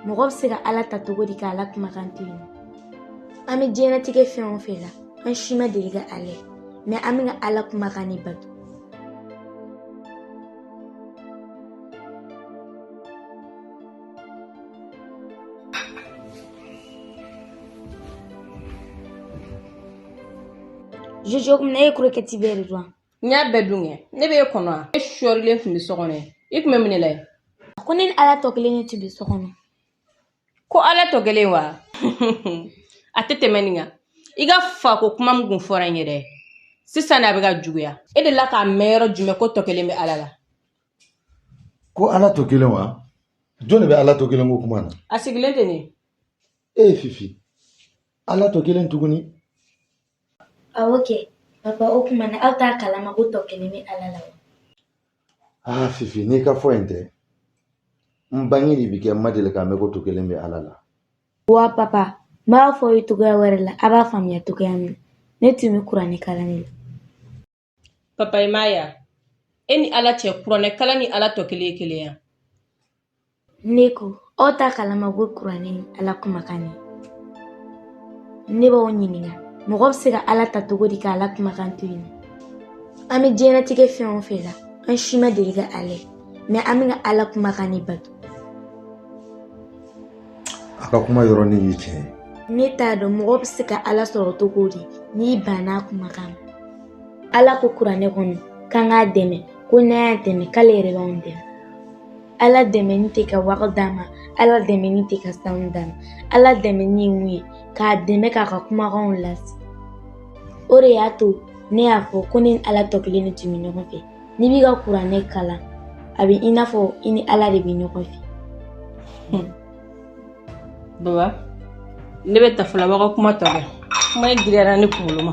mɔgɔ bɛ se ka ala ta cogo di k'ala kumakan to yen an bɛ diɲɛnatigɛ fɛn o fɛn la an si ma deli ka ala ye mɛ an bɛ ka ala kumakan de bato Jojo, o tuma na e ye krokɛti bɛɛ de dun? n y'a bɛɛ dun kɛ ne bɛ e kɔnɔ wa e sɔrilen tun bɛ so kɔnɔ yen i tun bɛ mun de la yen a ko ne ni ala tɔ kelen de tun bɛ so kɔnɔ ko ala tɔ kelen wa a tɛ tɛmɛ nin kan i ka fako kuma min tun fɔra n ye dɛ sisan de a bɛ ka juguya e delila k'a mɛn yɔrɔ jumɛn ko tɔ kelen bɛ ala la ko ala tɔ kelen wa jɔn de bɛ ala tɔ kelen ko kuma na a sigilen tɛ nin ye fifi ala tɔ kelen tuguni Awɔ kɛ papa o tuma na aw t'a kalama ko tɔ kelen bɛ ala la wa aa fifi n'i ka fɔ in tɛ n bange ni bi cɛ n ma deli k'a mɛn ko tɔ kelen bɛ ala la wa papa n b'a fɔ aw ye cogoya wɛrɛ la a b'a faamuya cogoya min na ne tun bɛ kuranɛ kalan de la Papa i m'a ye wa, e ni Ala cɛ kuranɛ kalan ni Ala tɔ kelen ye kelen ye wa? Ne ko, aw t'a kalama ko kuranɛ ye Ala kumakan ye. Ne b'aw ɲininka, mɔgɔ bɛ se ka Ala ta cogo di ka Ala kumakan to yen? An bɛ diɲɛnatigɛ fɛn o fɛn la, an si ma deli ka Ala ye, mɛ an bɛ ka Ala kumakan de bato. a ka kuma yɔrɔnin ye tiɲɛ ye ne t'a dɔn mɔgɔ bɛ se ka ala sɔrɔ cogo di n'i banna a kumakan ma ala ko kuranɛ kɔnɔ k'an k'a dɛmɛ ko n'an y'a dɛmɛ k'ale yɛrɛ b'anw dɛmɛ ala dɛmɛni tɛ ka wari d'a ma ala dɛmɛni tɛ ka sanu d'a ma ala dɛmɛni ye mun ye k'a dɛmɛ k'a ka kumakanw lase o de y'a to ne y'a fɔ ko ne ni ala tɔ kelen de tun bɛ ɲɔgɔn fɛ n'i b'i ka kuranɛ kalan a bɛ i n'a fɔ i ni ala de bɛ ɲɔgɔn fɛ hmm. baba ne bɛ taa fɔlɔ aw b'aw ka kuma tɔ kɛ kuma in giriyara ne kunkolo ma